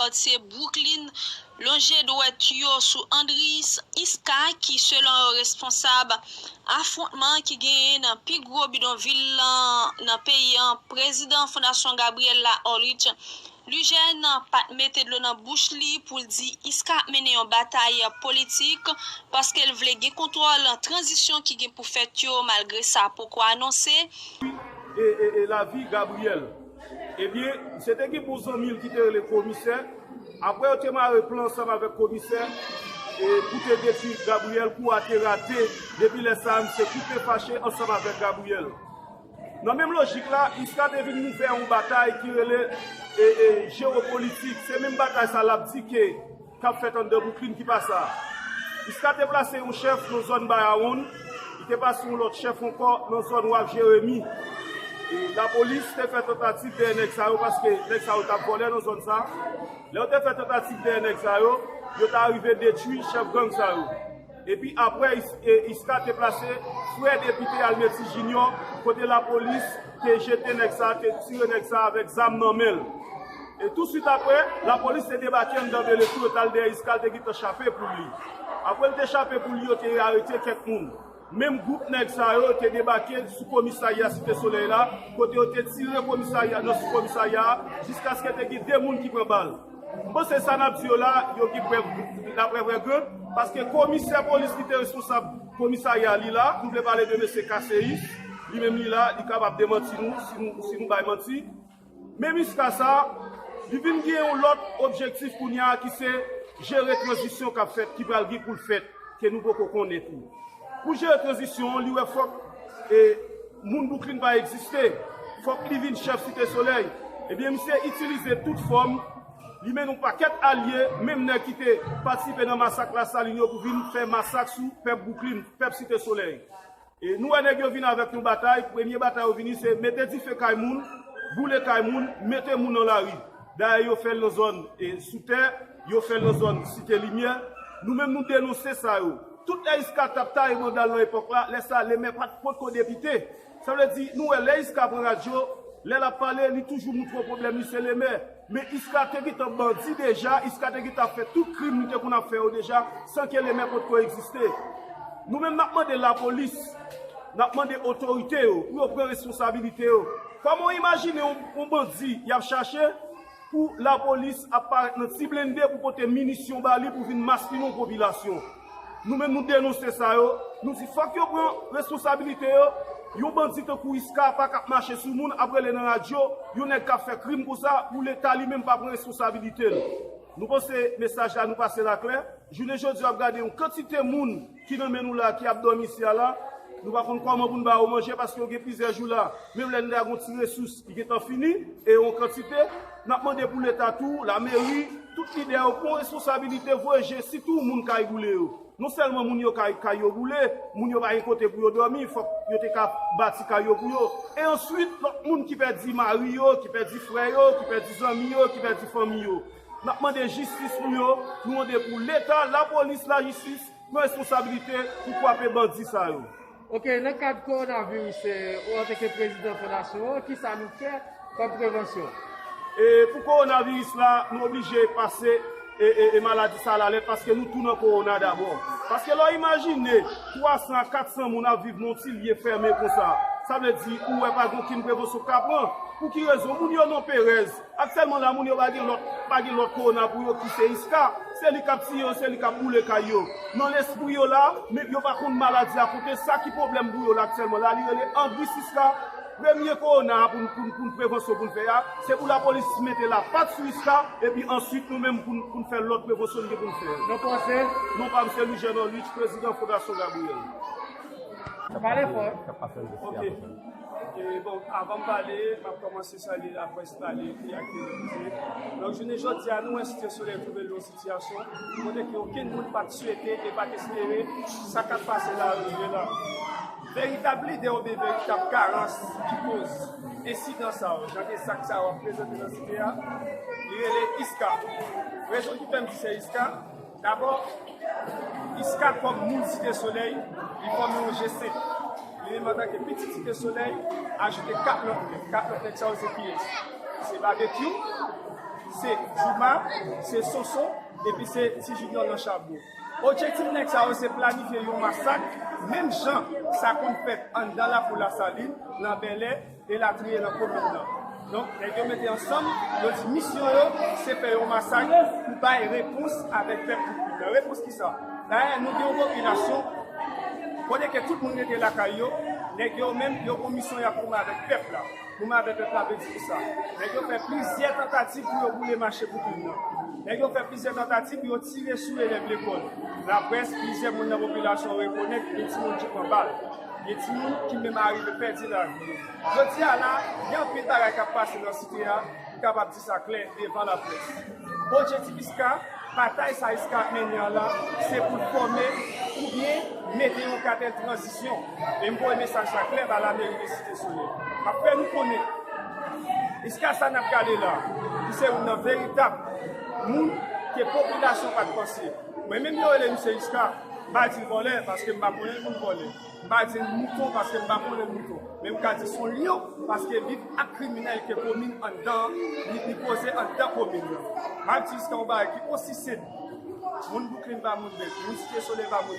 Lòt se Brooklyn lonje dwèt yo sou Andriis Iska ki selon yo responsab afwontman ki genyen nan pi gwo bidonvil lan nan peyi an prezidan Fondasyon Gabriella Orlich Lugène pat mete dlo nan bouch li pou l di Iska ap mennen yon batay politik paske l vle gen kontwòl tranzisyon ki gen pou fèt yo malgre sa poko anonse. E lavi Gabriel? Ebyen, se te gen bon zanmi l ki te rele Komisè, aprè yo te mare plan ansanm avèk Komisè pou te detui Gabriyèl, kou a te rate, depi lè sa a misye koupe fache ansanm avèk Gabriyèl. Nan menm lojik la, Iska te vin ouvè yon batay ki rele jewopolitik, se menm batay sa l ap di ke. k ap fèt anndan Bouklin ki pa sa a. Jiska te plase yon chèf nan zòn Bayawonn, li te pase yon lòt chèf ankò nan zòn Waf Jeremi. Lapolis te fè tantativ dèyè nèg sa yo paske nèg sa yo t ap vòlè nan zòn sa a. Lè yo te fè tantativ dèyè nèg sa yo, yo ta rive detwi chèf gang sa yo. Epi aprè Isca te plase, frè depite Almeti Junior kote lapolis te jete nèg sa a, te tire nèg sa a avèk zam nan men l. E tou swit aprè, lapolis te debake anndan Bele tou yo t al dèyè Isca l te gentan chape pou li. Aprè l te chape pou li yo te arete kèk moun. Menm gwoup nèg sa yo te debake sou komisarya Site Solèy la kote yo te tire komisarya nan sou komisarya a jiskaske te gen 2 moun ki pran bal. M panse sa nap di yo la, yo gen prèv la prèv rè ke, paske komisè polis ki te responsab komisarya li la, m vle pale de mesye Kaseyi, li menm li la, li kapab demanti nou si nou bay manti. Men Miska sa, li vin gen yon lòt objektif kounya ki se jere tranzisyon kap fèt, ki pral gen pou l fèt, ke nou poko konnen tou. Pou jere tranzisyon an, li wè fòk moun Bouklin pa egziste, fòk li vin chèf Site Solèy. Ebyen misye itilize tout fòm, li mennen yon pakèt alye, menm nèg ki te patisipe nan masak Lasalin yo pou vin fè masak sou pèp Bouklin, pèp Site Solèy. E nou wè nèg yo vin avèk yon batay, premye batay yo vini se mete dife kay moun, boule kay moun, mete moun nan lari. Dayè yo fè l nan zòn Soutè. Yo fè nan zòn Site Limyè. Nou menm nou denonse sa yo. Tout lè iska t ap taye mandal nan epòk la, lè sa le mè pa t potko depite. Sa vle di, nou wè lè iska pran radyo, lè l ap pale, li toujou moutre w pwoblèm li se le mè. Men iska te gentan bandi deja, iska te gentan ap fè tout krim li te konn ap fè yo deja san ke le mè potko egziste. Nou menm n ap mande lapolis, n ap mande otorite yo pou yo pran responsabilite yo. Kòman w imajine yon bandi y ap chache Pou lapolis ap parèt nan ti blende pou pote minisyon ba li pou vin maspinon popilasyon. Nou menm nou denonse sa yo, nou di fòk yo pran responsabilite yo, yon bandi tankou Isca pa kap mache sou moun ap rele nan radyo yon nèg kap fè krim konsa pou leta li menm pa pran responsabilite l. Nou panse mesaj la nou pase la klè, jounen jodi a wap gade yon kantite moun. ki nan men nou la, ki ap dòmi isi a la, nou pa konn kòman pou n ba yo manje paske yo gen plizyè jou la. Menm lè n ta gen yon ti resous ki gentan fini, e yo an kantite, n ap mande pou Leta tou, lameri, tout lidè yo pran responsabilite voye je sitou moun kay boule yo. Non sèlman moun yo kay kay yo boule, moun yo pa gen kote pou yo dòmi, fòk yo te ka bati kay yo pou yo. E answit, lòt moun ki pèdi mari yo, ki pèdi frè yo, ki pèdi zanmi yo, ki pèdi fanmi yo. Nap mande jistis pou yo, nou mande pou leta, lapolis, lajistis pran responsabilite pou kwape bandi sa yo. Ok nan kad coronavirus ou anteke prezidan fondasyon an kisa nou fè kòm prevansyon? E pou coronavirus la nou oblije pase e maladi sa lalèt paske nou tou nan corona dabò. Paske lè w imajine 300 a 400 moun ap viv nan yon ti lye fèmen konsa sa vle di ou wè pa gen okenn prevansyon k ka pran. Pou ki rezon? Moun yo nan perèz. Aktyèlman la moun yo pa gen lòt pa gen lòt kowona pou yo ki se Isca, se li kap tiye yo se li kap boule kay yo. Nan lespri yo la, men yo pa konn maladi a kote sa ki pwoblèm pou yo la aktyèlman la li rele Andris Isca, premye kowona a poun poun poun prevansyon poun fè a, se pou lapolis mete la pat sou Isca epi answit nou menm poun poun fè lòt prevansyon n gen poun fè. Non paw se? Non pam se Louis Jean Norlitch, prezidan Fondasyon Gabriel. Pale fò. Ok, bon avanm pale map kòmanse. Te salye laprès pale, ekri ak televize. Donk jounen jodi a nou wè Site Solèy twouve l nan yon sitiyasyon kote ke okenn moun pa t swete e pa t espere sa k ap pase la rive la. Veritab lide oubyen veritab karans ki koz ensidan sa yo, jan de zak sa yo ap prezante nan Site a, li rele ISKA. Rezon ki fè m di se ISKA, Dabò, Iska kòm moun Site Solèy, li fòme yon je senp. Li menm antanke pitit Site Solèy, ajoute 4 lòt nèg. 4 lòt nèg sa yo se kiyès? Se Babekyou, se Jooma, se Sonson epi se Ti Jinyò Lanchabo. Objektif nèg sa yo se planifye yon masak menm jan sa konn fèt anndan Lakou Lasalin, nan Bèlè, elatriye nan komin nan. Donk, nèg yo mete ansanm, yo di misyon yo se fè yon masak pou bay repons avèk pèp Poupouy nan. Repons ki sa? Dayè, nou gen yon popilasyon kote ke tout moun rete lakay yo, nèg yo menm yo gon misyon y ap goumen avèk pèp la. Goumen avèk pèp la vle di ki sa? Nèg yo fè plizyè tantativ pou yo boule mache Poupouy nan. Nèg yo fè plizyè tantativ pou yo tire sou elèv lekòl, laprès, plizyè moun nan popilasyon rekonèt gen timoun ki pran bal. Gen timoun ki menm arive pèdi lavi yo. Jodi a la, gen anpil bagay k ap pase nan site a ki kapab di sa klè devan laprès. Pwojè Tipiska, batay Saïska ap mennen an la, se pou l fòme oubyen mete yon katè tranzisyon. E m voye mesaj sa klè ba lameri de Site Solèy. M ap fè nou konnen, jiska sa n ap gade la, li se youn nan veritab moun ke popilasyon pa t panse. Mwen menm yo rele m se Jiska. M pa di l vòlè paske m pa konnen l pou l vòlè. M pa di l mouton paske m pa konnen l mouton. Men m ka di s on lyon paske li ak kriminèl ke komin anndan an, li poze anndan komin nan. M ap di jiska on bagay ki osi senp, moun Bouklin pa moun Bèk, moun Site Solèy pa moun.